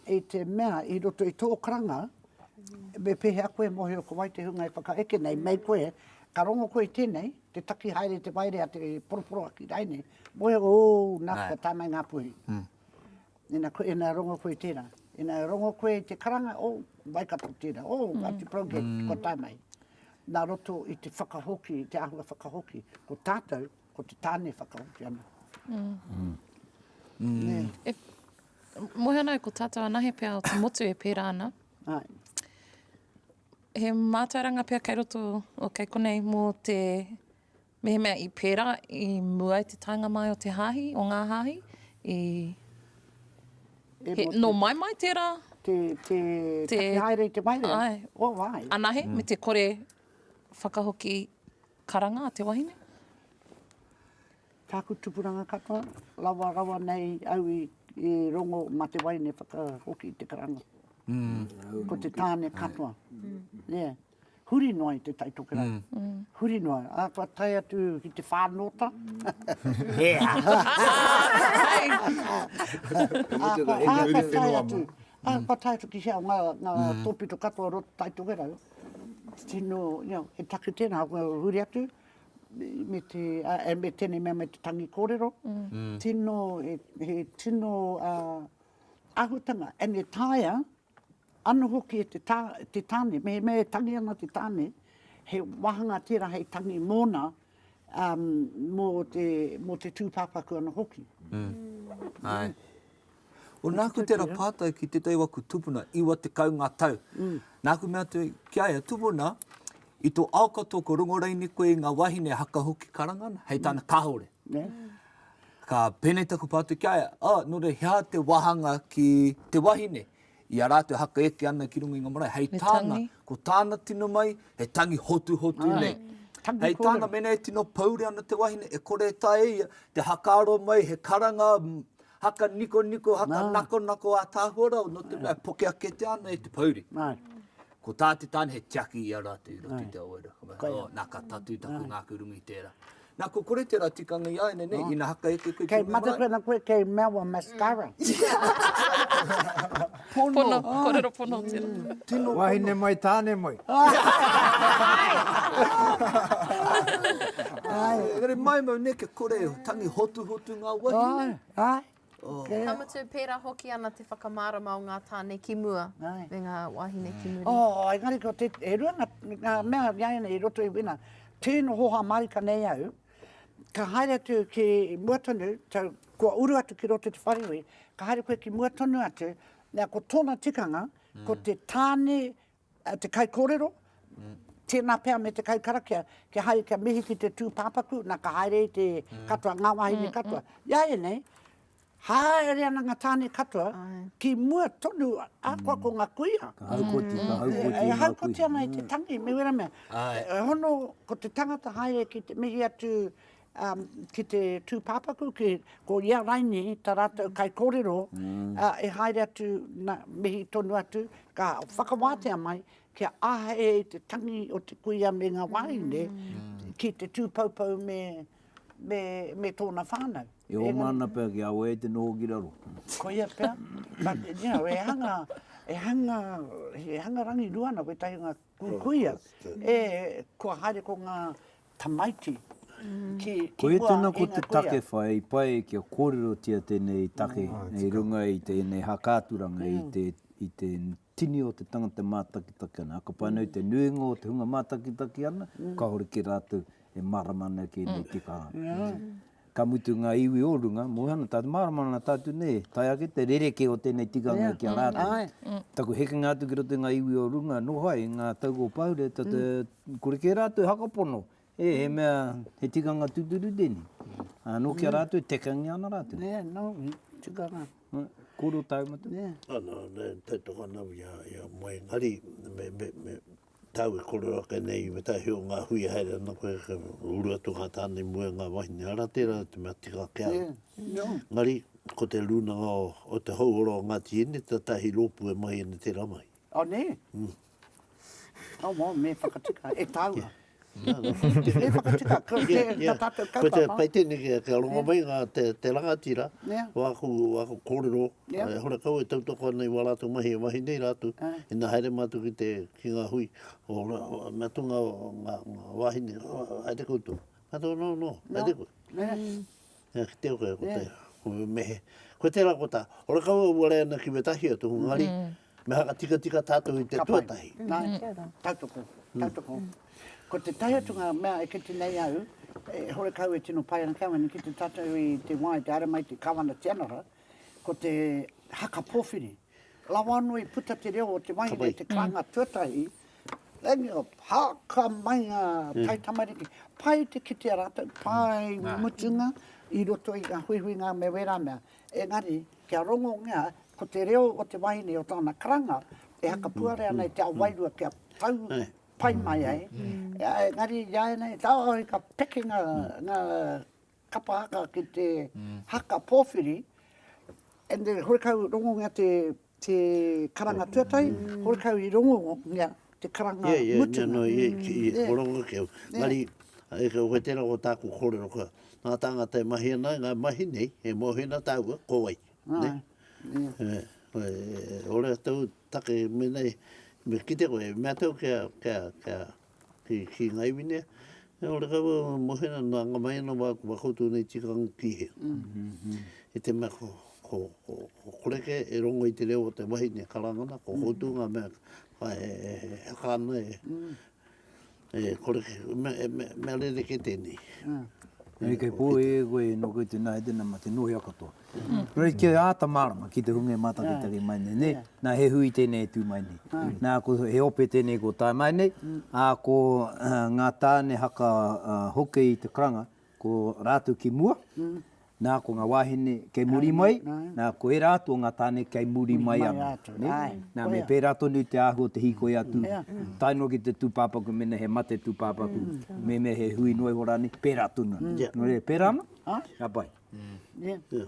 i te mea i roto i tō karanga, me pēhea koe e mōhio ko wai te hunga e whakaeke nei, mei koe, ka rongo koe i tēnei, te taki haere te waerea, te poroporoaki raine, mōhio koe, ō, nā, kua tāngai ngā puhi. Ina rongo koe i tera, ina rongo koe i te karanga, oh, mai ka puta tera, oh, Ngati Porou, ko tanei. Na roto i te whakahoki, te ahua whakahoki, ko tatou, ko te tane whakahoki ana. E mohe ana ko tatou anahe pea o te motu e pera ana. Ai. He mātauranga pea kei roto, o kei konei, mo te Mehemea i pērā, i mua i te taenga mai o te hāhi, o ngā hāhi, i... He, nō mai mai tērā? Te, te, te take haere i te maire? Ai. O, oh, ai. Anahe, mm. me te kore whakahoki karanga a te wahine? Tāku tupuranga katoa, rawa rawa nei au i, i rongo ma te wahine whakahoki te karanga. Mm. Ko te tāne katoa. Mm. Yeah. huri noa i Te Tai Tokerau. Huri noa, ā, kua tae atu ki te whānōta. Ea! Ā, kua tae atu, ā, kua tae atu ki hea o ngā, ngā tōpito katoa o roto Te Tai Tokerau. Tino, you know, he take tēnā, kua huri atu, me te, ā, me tēnei mea me te tangi kōrero. Tino, he, he tino, ā, āhutanga, and e taea, Ano hoki e te tane, mehemea e tangi ana te tane, he wahanga tera hei tangi mona, mo te, mo te tupapaku ano hoki. Aye. O naku tera patai ki tetahi waku tupuna, iwa tekau nga tau. Naku mea atu ki a ia, Tupuna, i to ao katoa ko rongo raini koe i nga wahine haka hoki karanga ana, hei tana kahore. Ka pēnei taku pātai ki a ia, oh, nō reira, he aha te wāhanga ki te wahine i a rātou haka eke ana ki runga i ngā marae? Hei tāna, ko tāna tino mai, he tangi hotuhotu nei. Hei tāna, mēnā e tino pouri ana te wahine, e kore e taea e ia te hakaaro mai he karanga haka nikoniko, haka nakonako ātaahua rau, nō te mea, e poke ake te ana e te pouri. Ko tā te tāne, he tiaki i a rātou i roto i te awaira. Nā, ka tatū taku ngāku runga i tērā. Na ko kore tera tikanga iaene nei ina hakaeke koe ki runga marae. Kei Matatena koe kei mea wa mascara. Pono, korero pono tera. Wahine mai tane mai. Engari mai mau ne kia kore tangi hotuhotu nga wahine. Ka mutu, pērā hoki ana te whakamārama o ngā tāne ki mua me ngā wāhine ki muri. Oh, engari ko te, e rua ngā, ngā mea i a ianei i roto i wina. Tēno hoha mārika nei au, ka haere atu ki mua tonu, tau, kua uru atu ki roto i te wharehui, ka haere koe ki mua tonu atu, nā, ko tōna tikanga, ko te tāne te kaikōrero, tēnā pea me te kaikarakia, kia haere kia mihi ki te tūpāpaku, nā ka haere i te katoa, ngā wāhine katoa. I a ianei, haere ana ngā tāne katoa ki mua tonu ahakoa ko ngā kuia. Ka haukoti, ka haukoti ngā kuia. E haukoti ana i te tangi, me wera mea. E hono, ko te tangata haere ki te mihi atu, ki te tūpāpaku, ko ia Raini, tā rātou kaikōrero, e haere atu, nā, mihi tonu atu, ka whakawātea mai, kia āhei ai te tangi o te kuia me ngā wāhine, ki te tūpoupou me, me, me tōna whānau. E oma ana pea kia awe ai te noho ki raro. Koia pea. But, you know, e hanga, e hanga, e hanga rangirua ana wētahi o ngā kuia, e, kua haere ko ngā, Tamaiti, ki mua e ngā kuia. Koia tēnā ko te take whai i pai kia kōrerotia tēnei take i runga i tēnei hākaaturanga i te tini o te tangata e mātakitaki ana. Ka pai ana i te nuinga o te hunga mātakitaki ana, kāore kē rātou e mārama ana ki ēnei tikanga. Ka mutu ngā iwi o runga, moe ana tātou, mārama ana tātou nē, tae ake te rerekē o tēnei tikanga ki a rātou. Taku hekenga atu ki roto i ngā iwi o runga, nō ai i ngā tau o Pahure, kore kē rātou e whakapono, e, he mea, he tikanga tūturu tēnei. Ā, nō ki a rātou e tekangia ana rātou. Nē, nō, tikanga. Kōrero tāu matou? Nē. Nā, nā, nā, tautoko ana au i a, i a moe, engari, me, me, me. Tau e kore ake nei me tahi o nga hui e haere ana koe ka uru atu nga tana i mua i nga wahine ara tera te mea tika ake au. Engari ko te runanga o te houora o Ngati Hine te tahi ropu e mahi ana tera mahi. Oh ne? Oh wow me whakatika e taua. Tēnei whakatita ko te ta tātou kaupapa. Ko te pai tēnei kia rongo mai ngā te rangatira o aku kōrero e hora kau e tautoko ana i wā rātou mahi e mahi nei rātou ina haere mātou ki te ki ngā hui mea tū ngā wāhine haere koutou. Haere anō anō, haere koe. Nga kite o kea kota ia. Mehe. Koe tera kota. Ora kaua ua re ana ki wetahi o toku ngari, me haka tikatika tatou i te tuatahi. Nga tera. Tautoko. Tautoko. Ko te tae atu nga mea e kite nei au, e hore kau e tino pai ana ki au, engari ki te tatau i te wa, i te aremai, te kawana, te anara, ko te haka powhiri. Rawa anō i puta te reo o te mahi nei, te karanga tuatahi, engio, haka mai ngā taitamariki, pai te kitea rātou, pai mutunga i roto i ngā huihuinga me wērā mea, engari, kia rongongea, ko te reo o te wahine, o tōna karanga, e hakapuare ana i te ao wairua kia tau pai mai ai, engari, i āianei, tāoi ka peke ngā, ngā, kapa haka ki te haka pōwhiri, and then horekau rongongia te te karanga tuatahi, horekau i rongongia te karanga mutunga. Yeah, yeah, no, yeah, ko rongo keu. Engari, e kau koe tērā ko tāku kōrero koe, ngā tāngata e mahi ana, ngā mahi nei, he mōhina tāua, ko wai, ne? Ora tau take, menei, me kite koe, mea tau kia, kia, kia, Ki Kīngaiwine, e ora kau au e mohena nā ngā maena wā kua koutou nei tikanga ki he. I te mea ko, ko, ko, ko kore kē e rongo i te reo o te wahine karangana, ko koutou ngā mea whā e, e, e haka ana e, e kore kē, mea, e, mea, mea rerekē tēnei. Hei kei pō e koe, nō koutou nā, he tēnā mā te nōhea katoa. Rei kē āta mārama ki te hunga e mātakitaki mai nei, nē. Nā, he hui tēnei e tū mai nei. Nā, ko, he ope tēnei kua tae mai nei, ā, ko ngā tāne haka hoki i te karanga, ko rātou ki mua, nā, ko ngā wāhine kei muri mai, nā, ko ērā atu o ngā tāne kei muri mai anō, nē. Nā, me pērā tonu te āhua o te hīkoi atu, tae noa ki te tūpāpaku mēnā he mate tūpāpaku, mēnā he hui noa iho rānei, pērā tonu anō. Nō reira, pērā anō? Ka pai. Yeah. Yeah.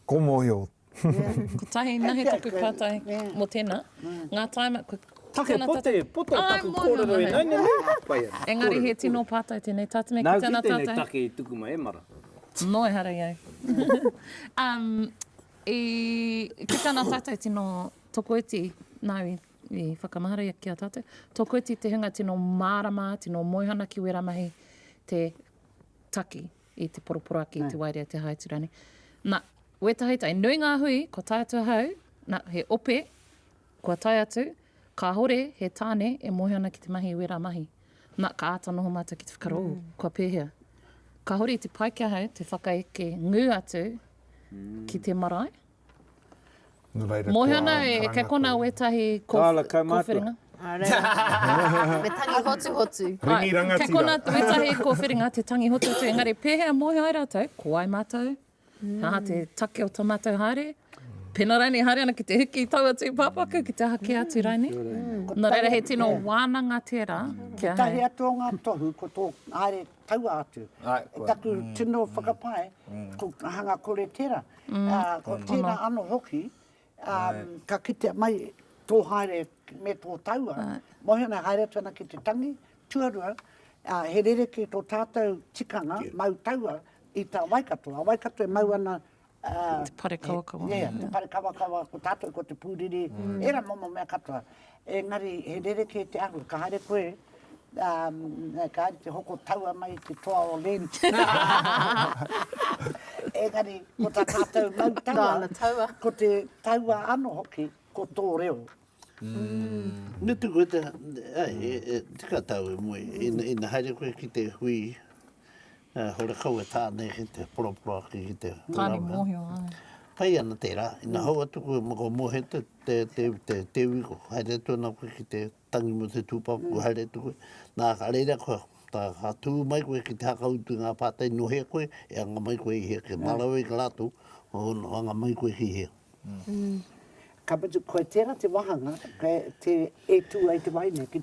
Ko mōhio. Kotahi, nahe taku pātai mō tēnā. Ngā taima, ko Take pote, pote o taku kōrero e nane nei. Engari he tino pātai tēnei. Tā tēnei ki tēnā tātai. Nā, ki tēnei take i tuku mai, e mara. Nō, ehara i au. um, i, ki tēnā tātai tino tokoiti, nā, i, i whakamahara ki a tātou. Tokoiti te hunga tino mārama, tino moihana ki wērā mahi te taki. i te poroporaki, i te waerea, i te haetu rānei. Na, wētahi tae, nui ngā hui, kua tae atu ahau, na, he ope, kua tae atu, kāore he tāne e mōhio ana ki te mahi i wērā mahi. Na, ka āta noho mātou ki te whakaaro, mm. kua pēhea. Ka hori te pai ki ahau te whakaeke ngū atu ki te marae, Moe ana e Ke kona wetahi ko Whiringa. Me tangi hotu hotu. Ringi rangatira. Ke kona wetahi ko Whiringa te tangi hotu hotu engari pehea moe ai ratou ko wai matou? He aha te take o to matou haere? Pena rainei haere ana ki te hiki i taua tupapaku ki te aha ke atu rainei? No reira he tino wananga tera kia. Tetahi atu o nga tohu ko to haere taua atu. Taku tino whakapae ko hanga kore tera. Ko tēnā anō hoki, ka kitea mai tō haere me tō taua, mōhioina haere atu ana ki te tangi, tuarua, he rerekē tō tātou tikanga mau taua i tā Waikato. A Waikato e mau ana, te parekawakawa, ko tātou ko te pūriri, ērā momo mea katoa. Engari he rerekē te ahu, ka haere koe, umm, ka haere te hoko taua mai i te toa o Lent. Engari, ko tā tātou mau taua, ko te taua anō hoki, ko tō reo. Umm. Me tuku e te, ai, e, e, tika tāu e moe, ina, ina haere koe ki te hui, He horekau e tāne ki te poroporo ake ki te whakarawe. Tāne mōhio, āe. Pai ana tērā, ina hou atu koe mō kua mōhio te, te, te, te, te iwi ko haere atu ana koe ki te tangi mō te tūpapa, kua haere atu koe. Nā, ka reira koe, tā, ka tū mai koe ki te hakautu i ngā pātai nohea koe, e anga mai koe i hea, kia marawe ki a rātou, o, anga mai koe ki hea. Ka mutu, koe tērā te wāhanga, e tū ai te wā ine ki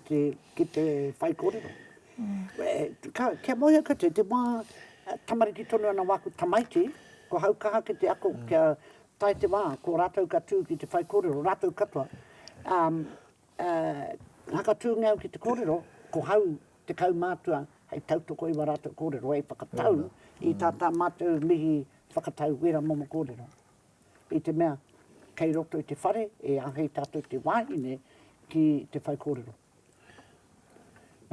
te whai kōrero. Kia mōhio koutou, te wā tamariki tonu ana wā ko tamaiti, ko hau ka hake te ako kia tae te wā, ko rātou ka tū ki te whai kōrero, rātou katoa. Whakatūngia au ki te kōrero, ko hau te kaumātua hei tautoko i wā rātou kōrero, hei whakatau i tā tā mātou mihi whakatau wērā momo kōrero. I te mea, kei roto i te whare e āhei tātou te wāhine ki te whaikōrero.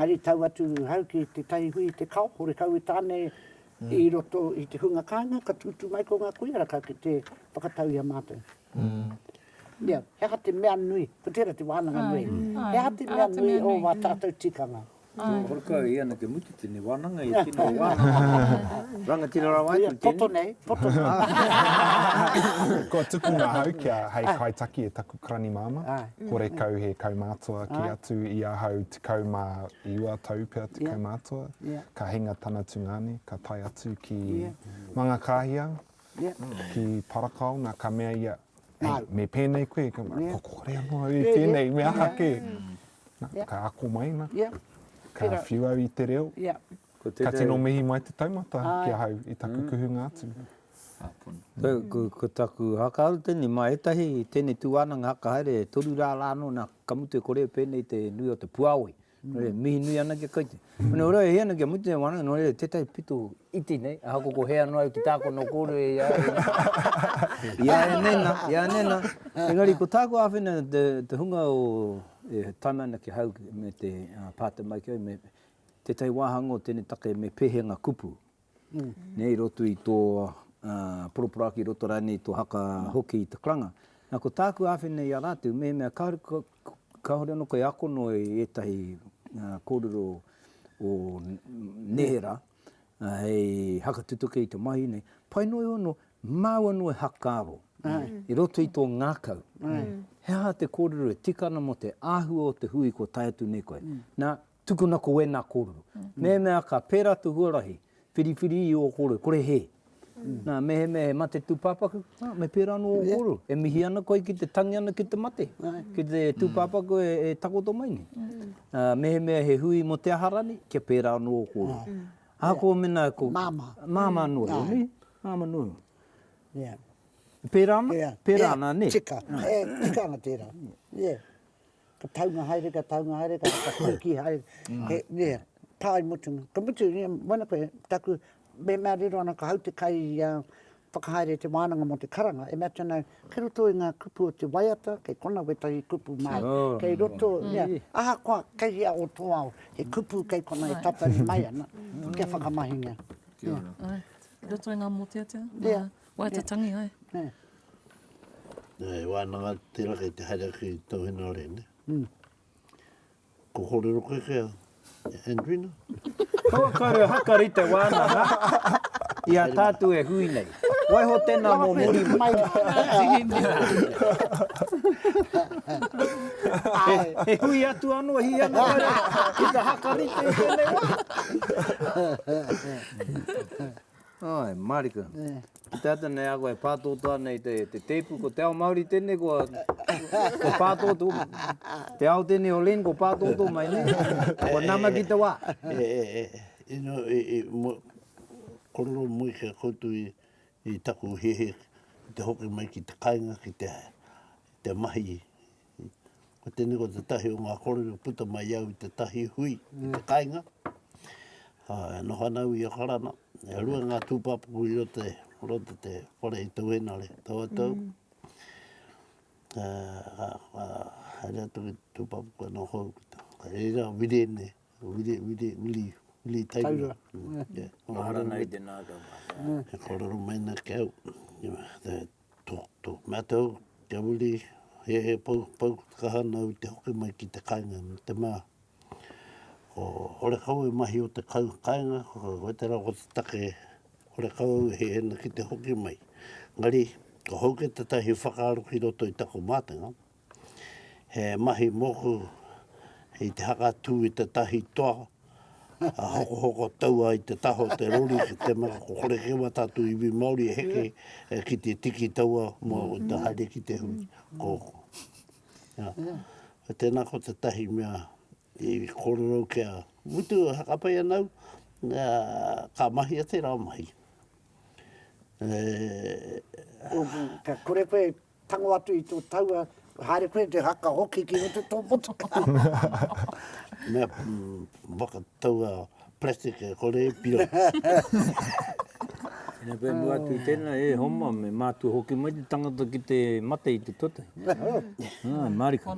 Engari tau atu ahau ki tētahi hui i te kao, horekau i tāne i roto i te hunga kāinga, ka tūtū mai ko ngā koiaraka ki te whakatau i a mātou. Ia, he aha te mea nui, ko tērā te wānanga nui, he aha te mea nui o wā tātou tikanga? Nō Horekau i ana kia mutu tēnei wānanga i tino wānanga. Rangatira rawa atu tēnei. Poto nei, poto nei. Kua tuku ngā hau kia hei kaitaki e taku karani māmā. Horekau he kaumātua kē atu i ahau tekau mā iwa tau pea te kaumātua. Ka hinga tana tungāne, ka tae atu ki Mangakāhia, ki Parakaona, ka mea ia, hei, me pēnei koe, ka mea, ko kore anō au i pēnei, me aha kē. Yeah. Ka ako mai na. Yeah. Ka Pera. whiu au i te reo. Yeah. Ko tēnei... Ka tino mihi mai te taumata Ai. ki ahau i taku mm. kuhunga atu. Mm. Ko, ko, ko taku hakaharu tēnei, mā ētahi tēnei tū wānanga hakahaere, toru rā rā anō nā kamute kore pēnei te nui o te puāoi. Mm. Re, mihi nui ana kia koutou. Nō reira, e hia ana kia mutu e wānanga, nō reira, tētahi pito iti nei, ahakoa ko hea noa au ki tāku anō kōrero e ia e nei. Ia e nei nā, ia e nei nā. Engari, ko tāku āwhina, te, te hunga o, e taima ana ki hau me te pātai mai ki au, me, tētahi wāhanga o tēnei take me pēhea ngā kupu? Nei i roto i tō poroporaki, i roto rānei i tō haka hoki i te karanga. Nā, ko tāku āwhina i a rātou, mehemea kāore anō koe e ako noa i ētahi kōrero o neherā, hei hakatutuki i te mahi nei, pai noa iho anō, māua noa e hakaaro i roto i tō ngākau, he aha te kōrero e tika ana mō te āhua o te hui kua tae atu nei koe. Nā, Tukuna ko wena korero. Mehemea ka pera to huarahi, whiriwhiri i o korero, kore he. Na, mehemea he mate tupapaku, a, me pera no o korero. E mihi ana koe ki te tangi ana ki te mate, ki te tupapaku e takoto mai nei. A, mehemea he hui mo te aha rani, kia pera ano o korero. Ahako mena ko. Mama. Mama no io, ne? Mama no io. Ia. Pera ana? Pera ana, ne? Tika. E, tika ana tera. Ia. ka taunga haere, ka taunga haere, ka whakakoikī haere, he, yeah, pā i mutunga. Ka mutu, yeah, moena koe, taku, me, mea riro ana ka hau te kai i a, whakahaere i te wānanga mō te karanga, e mea atu ana, kei roto i ngā kupu o te waiata, kei kona wētahi kupu māu, kei roto, yeah, ahakoa kei hea o tō ao, he kupu kei kona e tatari mai ana, kia whakamahingia. Kia ora. Ai, i roto i ngā mōteatea? Yeah. Waiatatangi ai. Nā, e wānanga atu tērā kei te haere ake i tō hinarei, nē. Ko kōrero koe kē a Andrina? Kua kore haka ri te wānanga i a tātou e hui nei. Waiho tēnā mō muri mai. E hui atu anō, hī anō kore ki te haka rite i tēnei wā. Āe, mārika. Ki te ata nei a koe e pātōtō ana i te tēpu, ko te ao Māori tēnei, ko pātōtō, te ao tēnei o Len, ko pātōtō mai nei, kua nama ki te wā. E, e, e, ino, e, e, mo, kororo mui kia koutu i, i taku hehe, te hoki mai ki te kainga, ki te, te mahi, Ko tēnei ko te tahi o ngā kōrero puta mai au i te tahi hui, i te kainga. E noho ana au i a Karana, e rua ngā tūpāpaku i roto i roto te whare i tau enare, tau atu au. Mm. Haere atu ki tūpāpaku anō hou, ka reira a Wirene, Wiri, Wiri, Wiri, Wiri Tairua. Tairua. Maharanai te nākau. He kōrero mai na ki au. Te, Tō mātou te uri he he pou, pou kaha nāu te hoki mai ki te kāinga me te mā. Ko Horekau e mahi o te kau kāinga, koe te rā ko te take Horekau au he hena ki te hoki mai. Engari, ko hau ke tata he whakaaro ki roto i taku mātenga, He mahi moku i te hakatū i te tahi toa, a hokohoko taua i te taha o te rori ki te mea ko Korekewa tātou iwi Māori e heke e ki te tiki taua mō te haere ki te hui. Ko, ia. Tēnā ko te tahi mea i kōrero kia mutu e hakapai ana au, ka mahia tērā mahi. E. Ka kore koe Tango atu i tō taua, haere koe te haka hoki ki roto tō motuka. Mea waka taua plastic e kore e piro. Ina koe mua atu i tēnā, e homa, me mātua hoki mai te tangata ki te mate i te tuatahi. Ah, mariko.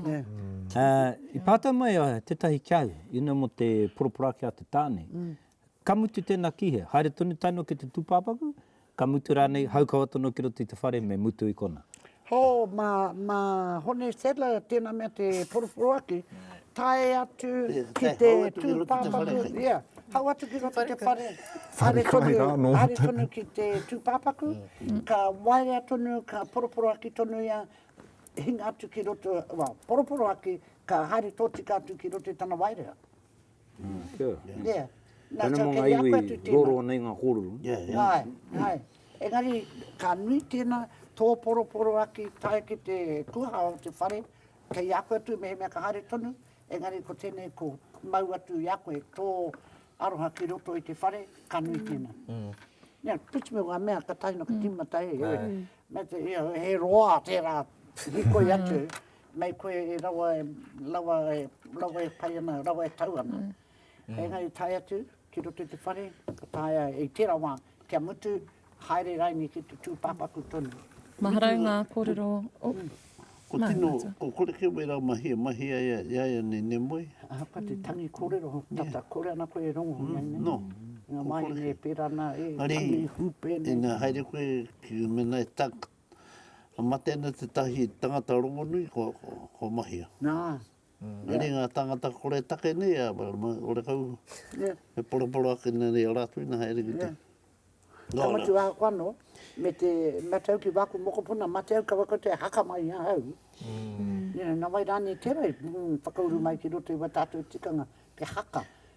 I pātai mai tētahi ki au, ina mo te poroporoaki a te tāne, Ka mutu tēnā kīhea, haere tonu tae noa ki te tūpāpaku, ka mutu rānei, haukawa tonu ki roto i te whare, me mutu i konā. Hō, mā, mā Hone Sadler tēnā mea te poroporoaki, tae atu ki te tūpāpaku, ia, hau atu ki roto i te whare, haere tonu, haere tonu ki te tūpāpaku, ka waea tonu, ka poroporoaki tonu ia, hinga atu ki roto, well, poroporoaki, ka haere tōtika atu ki roto i tana waerea. Yeah. Tēnā mō ngā iwi roro ana i ngā kōrero. Āe, āe. Engari, ka nui tēnā, tō poroporo ake i tae ki te kuaha o te whare, kei a koe atu mehemea ka haere tonu, engari ko tēnei ko mau atu i a koe tō aroha ki roto i te whare, ka nui tēnā. Nē, whiti me ngā mea ka tae noa, ka tīmata e, me te, he roa tērā hikoi atu, Nei koe e rawa, rawa, rawa e pai ana, rawa e tau ana. Engari i tae atu ki roto i te whare, ka taea e tērā wā kia mutu, haere rānei ki te tūpāpaku tonu. Maharau ngā kōrero. Ko tino, ko kore kē wērā mahi e mahi ai a ia ia nei ne moe. Ahakoa te tangi kōrero, tata kore ana koe e rongo nei ne. No. Ngā wāhine e pērā ana e tangi hūpē nei. Ina haere koe ki mēnā e Ka mate ana tētahi tangata rongonui, ko, ko, ko Mahia. Nā. Nā reira ngā tāngata koretake nei, a, ma, ora kau, e poroporo ake nei nei a rātou ina haere ki te. Ka mutu ahau anō, me te, me atu au ki wāku mokopuna, mate au kaua koutou e haka mai i ahau. Nā wai rānei tērā i whakauru mai ki roto i wā tātou tikanga, te haka.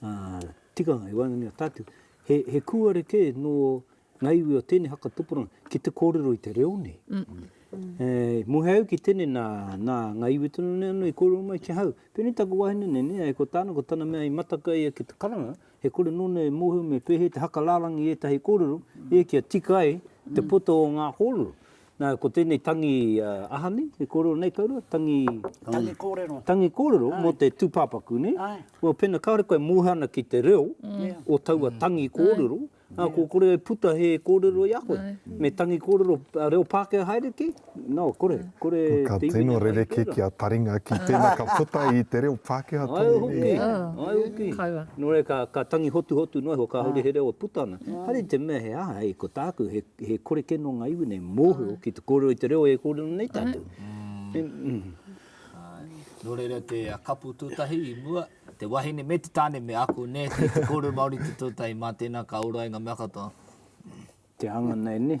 Ā, tikanga, e waenganui a tātou, he, he kūare kē nō ngā iwi o tēnei haka tupuranga ki te kōrero i te reo nei. E, muhe au ki tēnei nā, nā ngā iwi tonu nei anō i kōrero mai ki ahau. Pēnei taku wahine nei, nē, ai ko tāna, ko tana mea i mataka ia ki te karanga, e kore nōna e mōhio me pēhea te haka rārangi ētahi kōrero, ē, kia tika ai te poto o ngā kōrero. Nā, ko tēnei tangi aha nei, e kōrero nei kouroua, tangi... Tangi kōrero. Tangi kōrero mō te tūpāpaku, nē? Āe. Well, pēnā kāore koe e mōhio ana ki te reo o taua tangi kōrero, ā, kua kore e puta he kōrero i a koe. Me tangi kōrero reo Pākehā haere ki? Nō, kore, kore te iwi nei haere. Ka tino rerekē ki a Taringa ki tēnā ka puta i te reo Pākehā tonu nei. Ai hoki, ai hoki. Kaua. Nō reira, ka tangi hotuhotu noa iho kāore he reo e puta ana. Haere i te mea he aha, hei, ko tāku, he He kore kē nō ngā iwi nei mōhio ki te kōrero i te reo e kōrero nei tātou. Nō reira te kapu tūtahi i mua, te wahine me te tāne me ako nē ki te kōrero Māori i te tūtahi. Mā tēnā ka ora ai ngā mea katoa. Te hanga nei nē.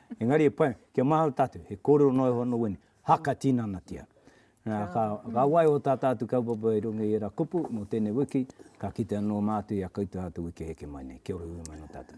Engari e pai, kia mahau tātou, he kōrero noa iho anō wēnei, haka tinanatia. Nā, ka, ka waiho tā tātou kaupapa i runga i ērā kupu mō tēnei wiki, ka kite anō mātou i a koutou āta wiki heke mai nei. Kia ora, hui mai nō tātou.